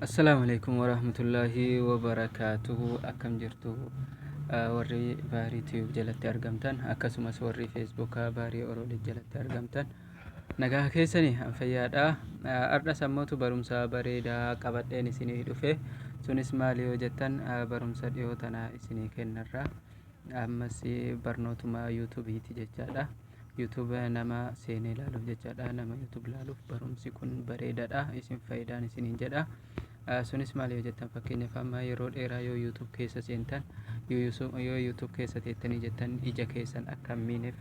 Assalaamu alaikum warahmatullaahi wabarakaatuhu akkam jirtu Ah, warri baarii tiyuub jalatti argamtan akkasumas warri feesbuukaa baarii oroolii jalatti argamtan nagaa keessani an fayyaadha Ah, har'a sammootu barumsa bareedaa qabadheen isinii dhufe sunis maali yoo jettan ah, barumsa dhiyoo tana isinii kennarra ammas barnootuma yuutubiiti jechaadha YouTube nama seenee ilaaluuf jechaadha nama YouTube ilaaluuf barumsi kun bareedaadha isin faayidaan isiniin jedha sunis maal yoo jettan fakkeenyaaf amma yeroo dheeraa yoo YouTube keessa seentan yoo YouTube keessa teettanii jettan ija keessan akka miineef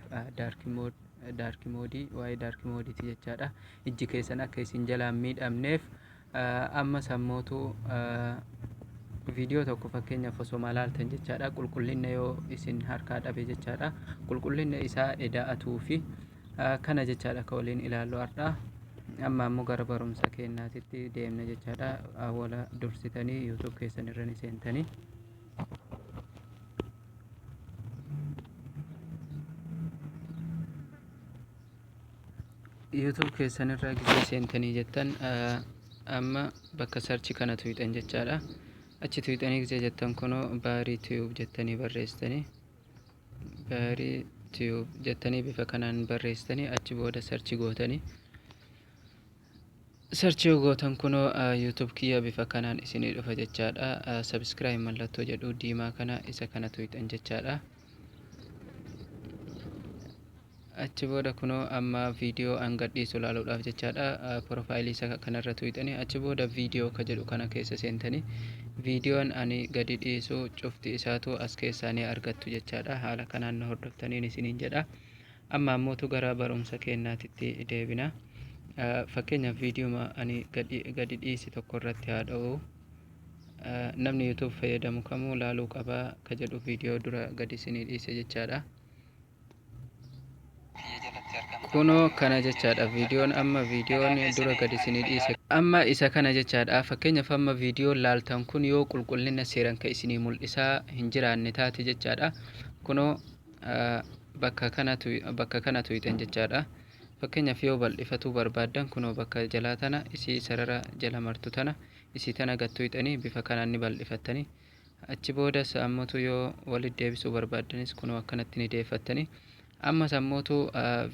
daarki moodii waa'ee daarki moodiiti jechaadha ijji keessan akka isin jalaan miidhamneef Ammas ammootu viidiyoo tokko fakkeenyaaf osoma ilaaltan jechaadha qulqullinna yoo isin harkaa dhabe jechaadha qulqullinna isaa eda'atuu fi kana jechaadha ka waliin ilaallu har'a amma ammoo gara barumsa keenyaatitti deemna jechaadha awwala dursitanii yuutuub keessan irra ni seentanii YouTube keessan irraa gisee seentanii jettan amma bakka sarchi kana tuyxan jechaadha achi tuyxanii gisee jettan kunoo baarii tiyuub jettanii barreessitanii baarii tiyuub jettanii bifa kanaan barreessitanii achi booda sarchi gootanii Search yoo gootan kunoo YouTube kiyya bifa kanaan isinii dhufa jechaadha. Subscribe mallattoo jedhu diimaa kana isa kana tuqxan jechaadha. Achi booda kunoo amma viidiyoo an gadhiisu ilaaluudhaaf jechaadha. Profaayilii isa kanarra tuqxanii achi booda viidiyoo ka jedhu kana keessa seentanii viidiyoon ani gadi dhiisu cufti isaatu as keessaa ni argattu jechaadha. Haala kanaan na hordoftaniin isiniin jedha. Amma ammootu gara barumsa keennaatitti deebina. Fakkeenyaaf viidiyooma ani gadi dhiisi tokko irratti haa dha'u. Namni YouTube fayyadamu kamuu laaluu qaba ka jedhu viidiyoo dura gadi isinii dhiise jechaadha. Kunoo kana jechaadha viidiyoon amma viidiyoon dura gadi isinii dhiise. Amma isa kana jechaadha fakkeenyaaf amma viidiyoon laaltan kun yoo qulqullina seeran ka isinii mul'isaa hin jiraanne taate jechaadha. Kunoo bakka kana bakka kana tuyxan jechaadha fakkeenyaaf yoo bal'ifatuu barbaaddan kunoo bakka jalaa tana isii sarara jala martu tana isii tana gad tuyxanii bifa kanaan ni bal'ifattanii achi boodas ammootu yoo walitti deebisuu barbaaddanis kunoo akkanatti ni deeffattanii ammas ammootu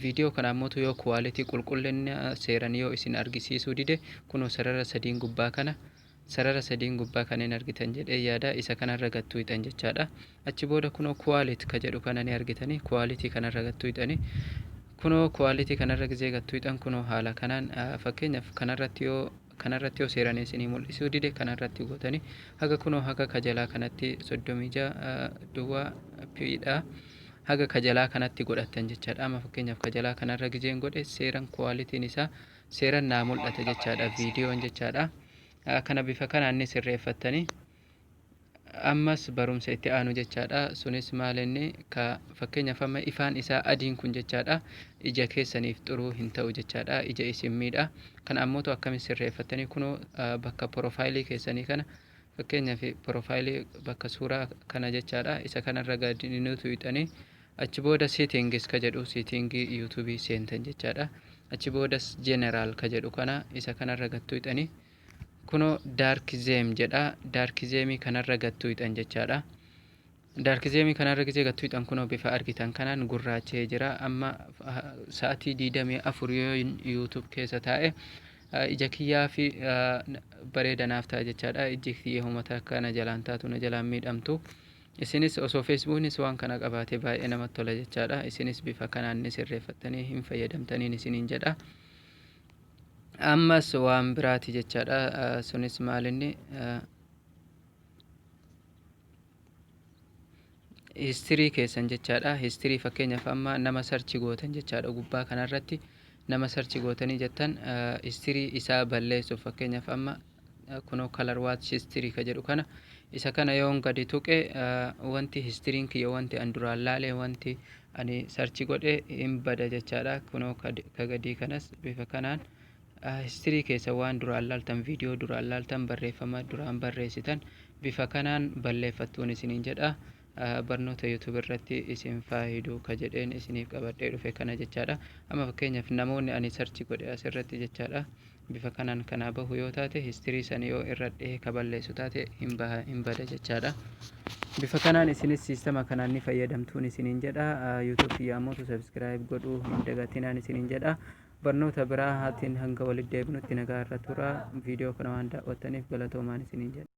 viidiyoo kana ammootu yoo kuwaalitii qulqullina seeran yoo isin argisiisuu dide kunoo sarara sadiin gubbaa kana Sarara sadiin gubbaa kanin argitan jedhee yaada isa kanarra gad tuuyxan jechaadha. Achi booda kunoo quality ka jedhu kana ni argitani. Quality kanarra gad tuuyxani. Kunoo quality kanarra gizee gad tuuyxan kunoo haala kanaan fakkeenyaaf kanarratti yoo kanarratti yoo seeranii isinii mul'isuu dide kanarratti gootani haga kunoo haga ka jalaa kanatti 36 duwwaa piidha. Haga ka jalaa kanatti godhattan jechaadha. Amma fakkeenyaaf ka jalaa kanarra gizeen godhe seeran quality'n isaa seeran naa mul'ata jechaadha viidiyoon jechaadha kana bifa kanaan ni sirreeffattanii ammas barumsa itti aanu jechaadha sunis maal inni ka fakkeenyaaf amma ifaan isaa adiin kun jechaadha ija keessaniif xuruu hin ta'u jechaadha ija isin miidha kan ammoo akkami sirreeffattanii kunoo bakka porofaayilii keessanii kana fakkeenyaaf porofaayilii bakka suuraa kana jechaadha isa kanarra gadi ni tuyxanii Achi booda settings ka jedhu setting youtube seentan jechaadha. Achi boodas general ka jedhu kana isa kanarra gad tuyxani kuno dark theme jedha dark theme kanarra gad tuyxan jechaadha. Dark theme kanarra gizee gad tuyxan kuno bifa argitan kanaan gurraachee jira amma sa'atii 24 yoo youtube keessa taa'e ija kiyyaa fi bareeda naaf ta'a jechaadha ijji kiyya humata akka na jalaan taatu na jalaan miidhamtu Isinis osoo Facebooknis waan kana qabaatee baay'ee namatti tola jechaadha. Isinis bifa kanaan ni sirreeffattanii hin fayyadamtaniin isiniin jedha. Ammas waan biraati jechaadha. Sunis maalinni histirii keessan jechaadha. Histirii fakkeenyaaf amma nama sarchi gootan jechaadha gubbaa kanarratti nama sarchi gootanii jettan histirii isaa balleessuuf fakkeenyaaf amma kunoo color watch history ka jedhu kana isa kana yoon gadi tuqe wanti histiriin kiyya wanti an duraan laale wanti ani sarchi godhe hin bada jechaadha kunoo ka gadii kanas bifa kanaan histirii keessa waan duraan laaltan viidiyoo duraan laaltan barreeffama duraan barreessitan bifa kanaan balleeffattuun isiniin jedha barnoota yuutuub irratti isin faayidu ka jedheen isiniif qabadhee dhufe kana jechaadha amma fakkeenyaaf namoonni ani sarchi godhe asirratti jechaadha bifa kanaan kanaa bahu yoo taate history san yoo irra dhihee ka balleessu taate hin baha hin bada jechaadha bifa kanaan isinis siistama kanaan ni fayyadamtuun isiniin jedha youtube kiyya ammoo subscribe godhuu hin dagatinaan isiniin jedha barnoota biraa haatiin hanga walitti deebinutti nagaa irra tura viidiyoo kana waan daawwattaniif galatoomaan isiniin jedha